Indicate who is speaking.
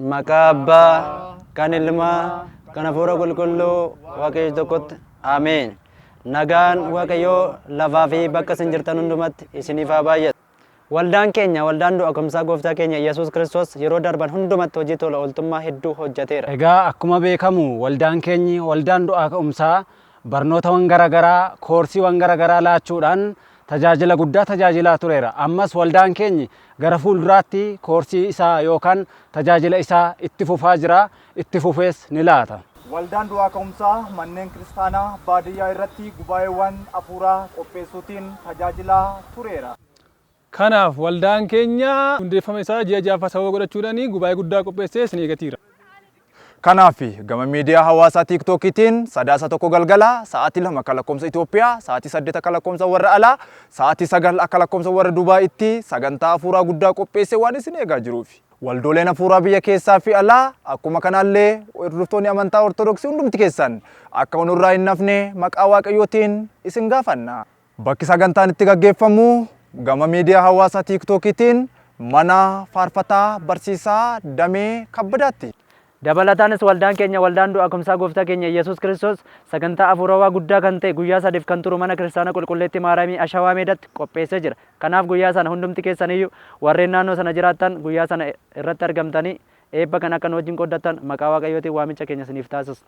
Speaker 1: Maqaa Abbaa, kan Ilmaa, kan Hafuura Qulqulluu Waaqayyo tokkotti. Ameen. Nagaan Waaqayyoo lafaa fi bakka isin jirtan hundumatti isiniif haa baay'atu. Waldaan keenya waldaan du'a ka'umsaa gooftaa keenya Yesuus Kiristoos yeroo darban hundumatti hojii tola ooltummaa hedduu hojjeteera. Egaa akkuma beekamu
Speaker 2: waldaan keenyi waldaan du'aa ka'umsaa Barnootawan gara garaa, koorsiiwan gara garaa laachuudhaan tajaajila guddaa tajaajilaa tureera. Ammas waldaan keenyi gara fuulduraatti koorsii isaa yookaan tajaajila isaa itti fufaa jira, itti fufees ni laata. Waldaan Du'aa
Speaker 3: Ka'umsaa manneen kiristaanaa baadiyyaa irratti gubaa'eewwan hafuuraa qopheessuutiin tajaajilaa tureera. Kanaaf,
Speaker 4: waldaan keenya hundeeffama isaa ji'a ja'affaa sababa godhachuudhaan gubaa'ee guddaa qopheessee isin eegatii jira. Kanaaf,
Speaker 3: gama miidiyaa hawaasaa TikTokiitiin Sadaasa 1 galgala sa'aatii 2 akka lakkoofsa Itoophiyaa, sa'aatii 8 akka lakkoofsa warra alaa, sa'aatii 9 akka lakkoofsa warra Dubaayitti sagantaa hafuuraa guddaa qopheessee waan isin eegaa jiruuf, waldooleen hafuuraa biyya keessaa fi alaa, akkuma kanaallee hordoftoonni amantaa Ortodoksii hundumti keessan akka nurraa hin hafne maqaa Waaqayyootiin isin gaafanna. Bakki sagantaan itti gaggeeffamu gama miidiyaa hawaasaa Tiiktookiitiin mana faarfataa barsiisaa Damee Kabbadaatti. Dabalataanis
Speaker 1: waldaan keenya waldaan du'a kumsaa gooftaa keenya Iyyasuus Kiristoos sagantaa afuurawaa guddaa kan ta'e guyyaa sadiif kan turu mana kiristaana qulqulleettii Maaraamii Ashawaa Meedatti qopheessee jira. Kanaaf guyyaa sana hundumti keessaniyyu warreen naannoo sana jiraattan guyyaa sana irratti argamtanii eebba kana akka nu wajjin qooddattan maqaa Waaqayyootiin waamicha keenya isiniif taasisna.